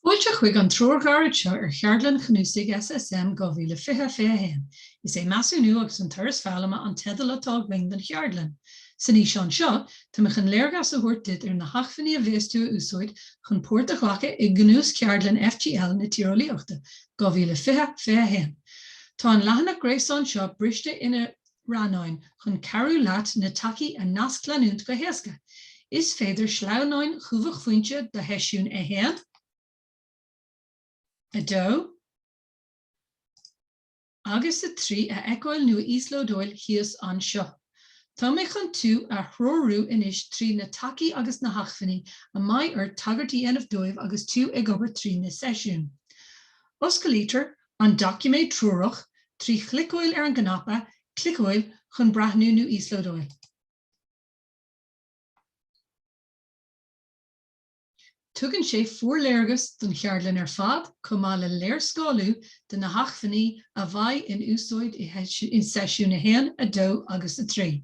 Fáilte chuig an treoir ghairid seo ar cheardlann chnuasaigh SSM 2020, Fé 1. Is é 'Measúnú agus an Turas Foghlama' an teideal atá againn don cheardlann. San fhíseán seo, táimid chun léargas a thabhairt duit ar na hacmhainní a bheas tú ag úsáid chun páirt a ghlacadh i gCnuascheardlann FGL na Tíreolaíochta 2020, Fé 1. Tá an leathanach gréasáin seo briste ina. rannáin chun cabhrú leat na tacaí a nascleanúint go héasca. Is féidir sleamhnáin Chumhachtphointe do sheisiún 1, 2 agus 3 a fheiceáil nó a íoslódáil thíos anseo. Tá mé chun tú a threorú anois trí na tacaí agus na hacmhainní a mbeidh ort tagairt a dhéanamh dóibh agus tú ag obair trí na seisiúin. Osclaítear An doiciméad treorach, trí chliceáil ar an gcnaipe Cliceáil chun breathnú nó íoslódáil. Tugann sé forléargas don cheardlann ar fad chomh maith le léarscáiliú de na hacmhainní a bheidh in úsáid i seisiúin 1, 2 agus 3.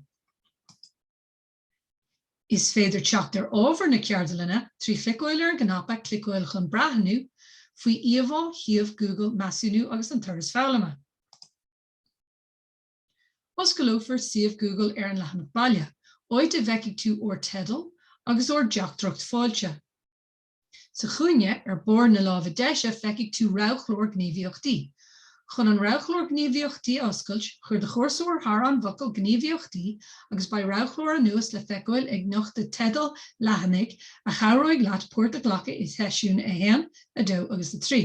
Is féidir teacht ar ábhar na ceardlainne trí chliceáil ar an gcnaipe 'cliceáil chun breathnú' faoi íomhá shuíomh Google Measúnú agus an Turas Foghlama. Osclófar suíomh Google ar an leathanach baile, áit a bhfeicfidh tú ár dteideal agus ár dteachtaireacht fáilte. Sa chúinne ar bharr na láimhe deise feicfidh tú roghchlár Gníomhaíochtaí. Chun an roghchlár Gníomhaíochtaí a oscailt, cuir do chursóir thar an bhfocal Gníomhaíochtaí agus beidh roghchlár anuas le feiceáil ag nochtadh teidil leathanaigh a chabhróidh leat páirt a ghlacadh i Seisiúin 1, 2 agus 3.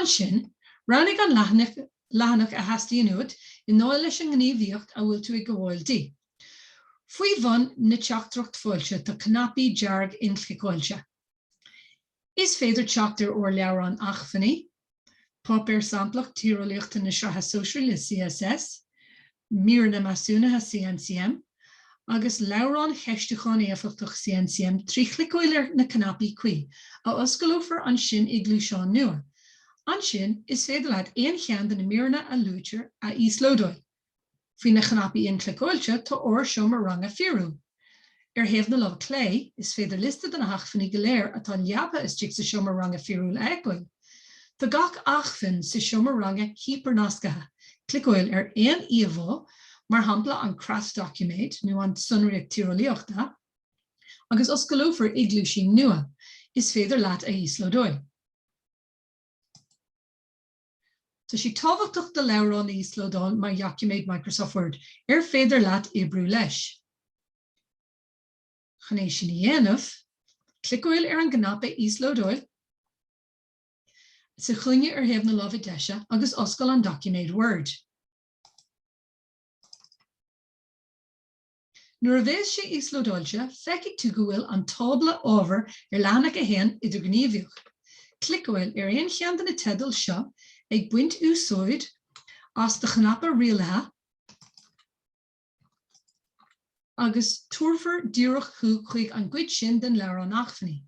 Ansin, roghnaigh an leathanach a theastaíonn uait i ndáil leis an ngníomhaíocht a bhfuil tú ag gabháil di. Faoi bhun na teachtaireacht fáilte tá cnaipí dearga inchliceáilte. Is féidir teacht ar ár leabhrán Acmhainní, Páipéar Samplach Tíreolaíochta na Sraithe Sóisearaí CSS, Míreanna Measúnaithe CNCM, agus Leabhrán Cheistiúcháin Éifeachtach CNCM trí chliceáil ar na cnaipí cuí, a osclófar ansin i gcluaisín nua. Ansin, is féidir leat aon cheann de na míreanna a luaitear a íoslódáil. Faoi na cnaipí inchliceáilte, tá ár seomra ranga fíorúil. Ar thaobh na lámh clé, is féidir liosta de na hacmhainní go léir atá leabaithe istigh sa seomra ranga fíorúil a fheiceáil. Tá gach acmhainn sa seomra ranga hipear-nasctha, cliceáil ar aon íomhá, mar shampla an Creat Doiciméad nó an tSonraíocht Tíreolaíochta, agus osclófar i gcluaisín nua. Is féidir leat a íoslódáil. Tá sé tábhachtach do leabhrán a íoslódáil mar dhoiciméad Microsoft Word ar féidir leat oibriú leis. Chun é sin a dhéanamh, cliceáil ar an gcnaipe Íoslódáil sa chúinne ar thaobh na láimhe deise agus oscail an doiciméad Word. Nuair a bheas sé íoslódáilte, feicfidh tú go bhfuil an tábla ábhar ar leathanach 1 idirghníomhaíoch. Cliceáil ar aon cheann de na teidil seo, ag baint úsáid as do chnaipe rialaithe, agus tabharfar díreach thú chuig an gcuid sin den leabhrán acmhainní.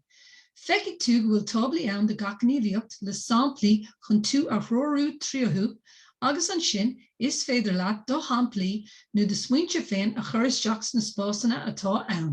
Feicfidh tú go bhfuil táblaí ann do gach gníomhaíocht, le samplaí chun tú a threorú tríothu, agus ansin Is féidir leat do shamplaí nó do smaointe féin a chur isteach sna spásanna atá ann.